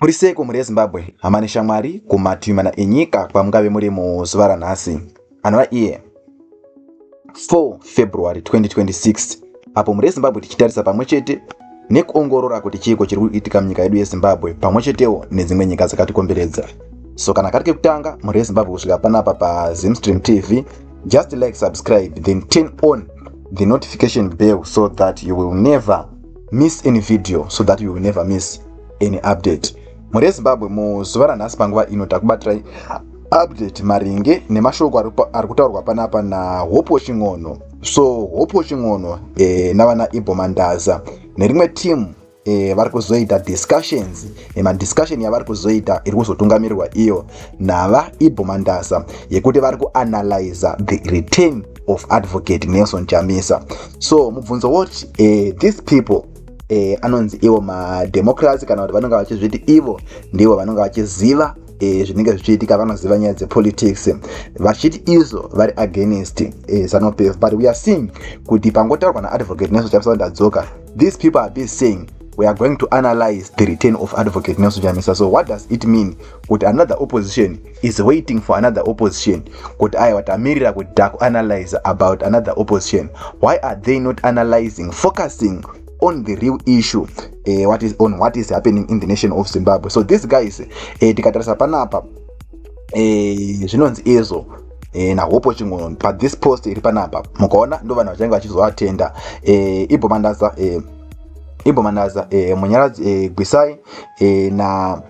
Muri seiko mhuri yeZimbabwe, hama neshamwari kumativi mana enyika kwamungave muri muzuva ranhasi, anova iye 4 February 2026, apo mhuri yeZimbabwe tichitarisa pamwe chete nekuongorora kuti chiiko chiri kuitika munyika yedu yeZimbabwe pamwe chetewo nedzimwe nyika dzakatikomberedza. So kana kari kekutanga mhuri yeZimbabwe kusvika panapa paZimstream TV, just like, subscribe then turn on the notification bell so that you will never miss any video so that you will never miss any update mhuri yezimbabwe muzuva ranhasi panguva ino takubatirai update maringe nemashoko ari kutaurwa panapa nahopo ching'ono so hopo ching'ono e, navana ibo mandaza nerimwe timu e, eh, vari kuzoita discussions nemadiscussion yavari kuzoita iri kuzotungamirirwa iyo nava ibho mandasa yekuti vari kuanalyza the return of advocate nelson chamisa so mubvunzo woti uh, these people uh, anonzi ivo mademocracy kana kuti vanonge vachizviti ivo ndivo vanonge vachiziva eh, zvinenge uh, zvichiitika vanoziva nyaya dzepolitics vachiti izvo vari against uh, zanopf but weare seeing kuti pangotaurwa naadvocate nelson chamisa vandadzoka these people are be saying we are going to analyze the return of advocate nelson chamisa so what does it mean kuti another opposition is waiting for another opposition kuti aiwa tamirira kuti takuanalyze about another opposition why are they not analyzing focusing on the real issue uh, what is on what is happening in the nation of zimbabwe so these guys uh, tikatarisa panapa uh, zvinonzi izvo e, nahopo chingono but this post iri panapa mukaona ndo vanhu vachange vachizovatenda e, ibhomandaza e, ibhomandaza e, munyaradzi e, gwisai e, na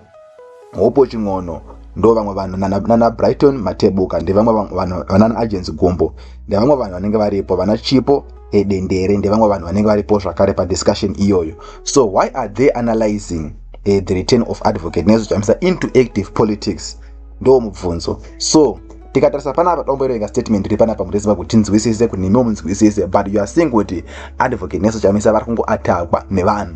Hopo Chin'ono ndo vamwe vanhu nana Brighton Matebuka ndevamwe vanhu vanana Agents Gumbo ndevamwe vanhu vanenge varipo vana Chipo edendere ndevamwe vanhu vanenge varipo zvakare padiscussion iyoyo so why are they analyzing uh, the return of advocate nezochamisa into active politics ndo mubvunzo so tikatarisa panapa tomboerenga statement iri panapa kuti tiziva kuti tinzwisise kuti nemiwo munzwisise but you are seeing kuti advocate neso chamisa vari kungoatakwa nevanhu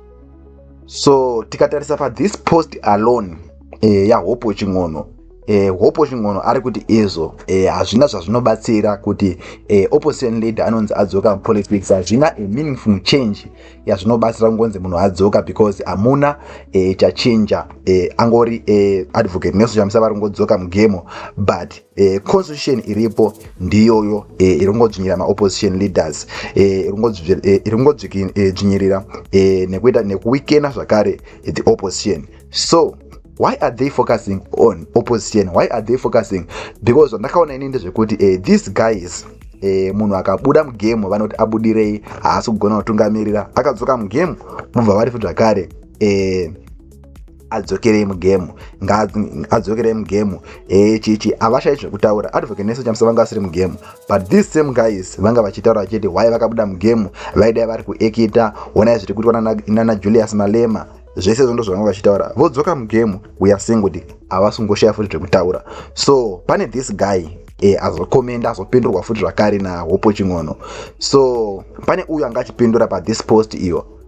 so tikatarisa pa this post alone eh, yahopo chin'ono eh, hopo chin'ono ari kuti izvo eh, hazvina eh, zvazvinobatsira kuti eh, opposition leader anonzi adzoka politics hazvina a meaningful change yazvinobatsira kungonzi munhu adzoka because hamuna eh, chachinja eh, angori eh, advocate nesu chamisa vari kungodzoka mugemo but E, constitution iripo ndiyoyo e, eh, iringodzvinyirira maopposition leaders iringodzvinyirira e, e, e, nekuita nekuwikena zvakare the opposition so why are they focusing on opposition why are they focusing because zvandakaona ini ndezvekuti e, these guys e, munhu akabuda mugemu vanoti abudirei haasi kugona kutungamirira akadzoka mugemu mubva vari fu zvakare e, adzokerei mugemu adzokerei mugemu eh, chichi avashai zvekutaura advocate nesu chamisa vanga vasiri mugemu but these same guys vanga vachitaura vachiti why vakabuda mugemu vaidai vari kuekita onai zviri kuitwa nana julius malema zvese zvondo zvavanga vachitaura vodzoka mugemu weare seeing kuti havasi kungoshaya futi zvekutaura so pane this guy e, azokomenda azopindurwa futi zvakare nahopo ching'ono so pane uyo anga achipindura pathis post iyo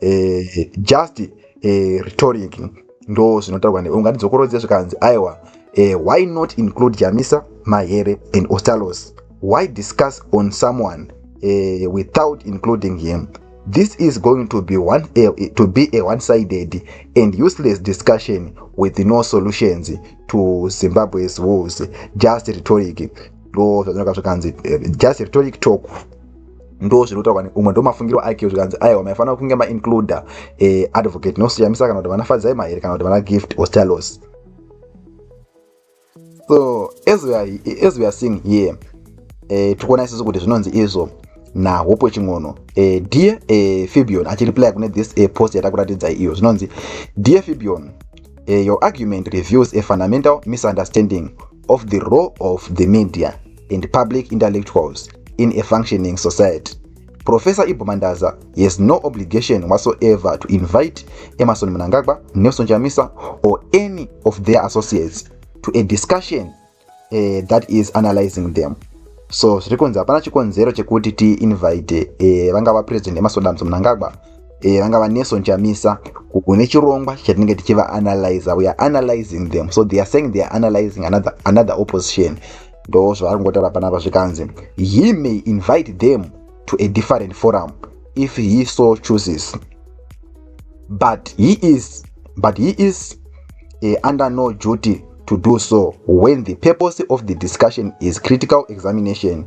eh, just eh, rhetoric ndo zvinotaurwa newe unganidzokorodze zvikanzi aiwa eh, why not include jamisa mahere and ostalos why discuss on someone eh, without including him this is going to be one a, eh, to be a one sided and useless discussion with no solutions to zimbabwe's wolves just rhetoric ndo zvazvinoka zvikanzi eh, just rhetoric talk ndo zviri kutaurwa neumwe ndo mafungiro ake zvikanzi aiwa maifanira kunge maincluda eh, advocate nosiyamisa kana kuti vana fadzai mahere kana kuti vana gift or stalos so as we are, as we are seeing here eh, tikuona isisu kuti zvinonzi izvo nahope wechin'ono eh, dear eh, fibion achireply kune this eh, post yatakuratidzai iyo zvinonzi dear fibion eh, your argument reviews a fundamental misunderstanding of the role of the media and public intellectuals in a functioning society professor ibo mandaza has no obligation whatsoever to invite emerson munangagwa nelson chamisa or any of their associates to a discussion uh, that is analyzing them so zviri kunzi hapana chikonzero chekuti tiinvite uh, vangava president emasodamso munangagwa e, eh, vangava nelson chamisa kune chirongwa chatinenge tichivaanalyza weare analyzing them so they are saying they are analyzing another, another opposition ndo zvavari kungotaura panapa zvikanzi he may invite them to a different forum if he so chooses but he is but he is uh, under no duty to do so when the purpose of the discussion is critical examination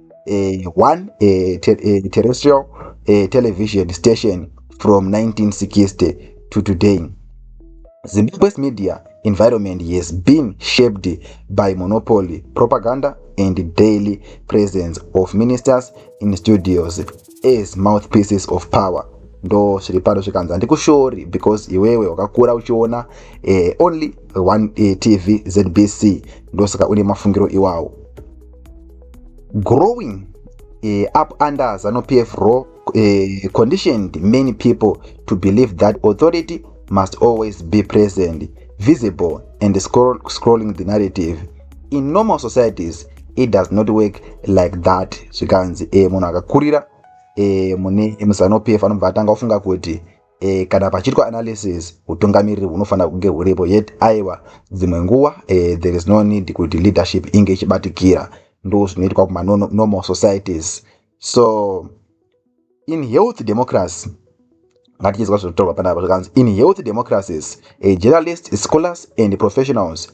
eh, one eh, te, eh, terrestrial eh, television station from 1960 to today zimbabwe's media environment has been shaped by monopoly propaganda and daily presence of ministers in studios as mouthpieces of power ndo zviri pano zvikanzi handikushori because iwewe wakakura uchiona eh, only one eh, tv zbc ndosaka une mafungiro iwawo growing uh, up under zanu pf raw uh, conditioned many people to believe that authority must always be present visible and scroll, scrolling the narrative in normal societies it does not work like that zvikanzi e munhu akakurira e mune muzanupf anobva atanga ofunga kuti e, kana pachiitwa analysis utungamiriri hunofanira kunge huripo yet aiwa dzimwe nguva e, there is no need kuti leadership inge ichibatikira ndo zvinoitwa kumanormal societies so in health democracy ngatichizwa zvinotorwa panapa zvakanzi in health democracies a journalist scholars and professionals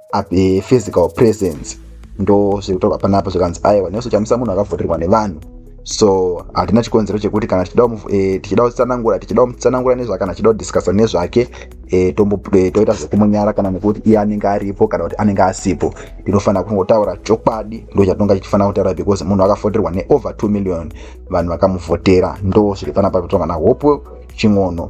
eh, physical presence ndo zviri kutaurwa panapa zvikanzi aiwa nesu chamisa munhu akavhurirwa nevanhu so hatina chikonzero chekuti kana tichida eh, kutsanangura tichida kumutsanangura nezvake kana tichida kudiscusa nezvake eh, toita zvekumunyara kana nekuti iye anenge aripo kana kuti anenge asipo tinofanira kungotaura chokwadi ndo chatinonga tichifanira kutaura because munhu akavhoterwa neover 2 million vanhu vakamuvhotera ndo zviri panapa kutonga nahope ching'ono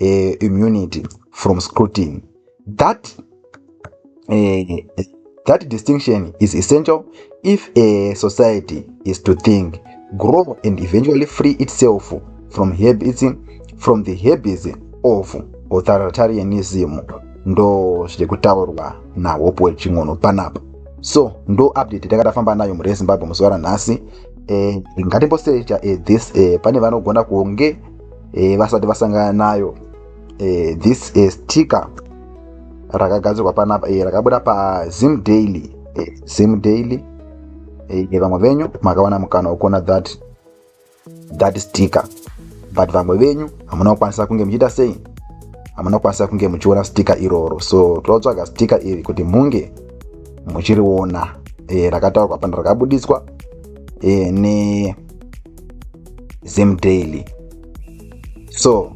uh, immunity from scrutiny that uh, that distinction is essential if a society is to think grow and eventually free itself from habits from the habits of authoritarianism ndo zviri kutaurwa nahope wechin'ono panapa so ndo update takatafamba nayo mhuri yezimbabwe muzuva ranhasi eh, ngatimbosecha eh, this eh, pane vanogona kunge e, vasati vasangana nayo e, this e, sticker rakagadzirwa panapa e, rakabuda pazim daily e, zim daily e, vamwe venyu makawana mukana wekuona that that sticker but vamwe venyu hamuna kukwanisa kunge muchiita sei hamuna kukwanisa kunge muchiona sticker iroro so totsvaga sticker iri kuti munge muchiriona e, rakataurwa pana rakabudiswa e, ne zimdaily so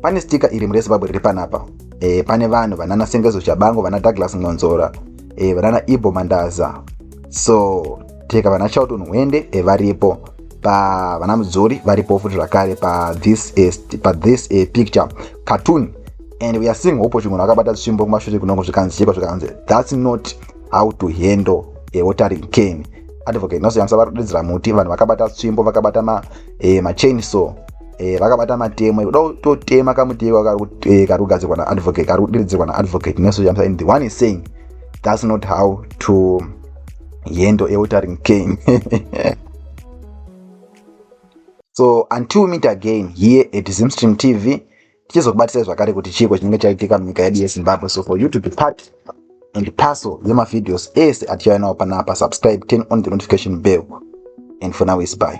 pane stika iri murezimbabwe riri panapa e, pane vanhu vanana sengezo chabango vana douglas ngonzora e, eh, vanana ibo mandaza so teka vana chalton hwende e, varipo pa vana mudzori varipo futi zvakare pa this, e, pa this e, picture cartoon and we are seeing hope kuti munhu akabata tsvimbo kumashure kunongo zvikanzi chekwa zvikanzi that's not how to handle a watering cane advocate nelson yamsa vari kudiridzira muti vanhu vakabata tsvimbo vakabata ma, eh, machain so eh, vakabata matemo kuda kutotema kamuti iko kari eh, kugadzirwa naadvocate kari kudiridzirwa naadvocate nelson yamsa and the one is saying that's not how to yendo eutering came so until meet again here at zimstream tv tichizokubatisai zvakare kuti chiiko chinenge chaitika munyika yedu yezimbabwe so for you to be part and parcel yemavideos ese atichauya nawo panapa subscribe turn on the notification bell and for now is by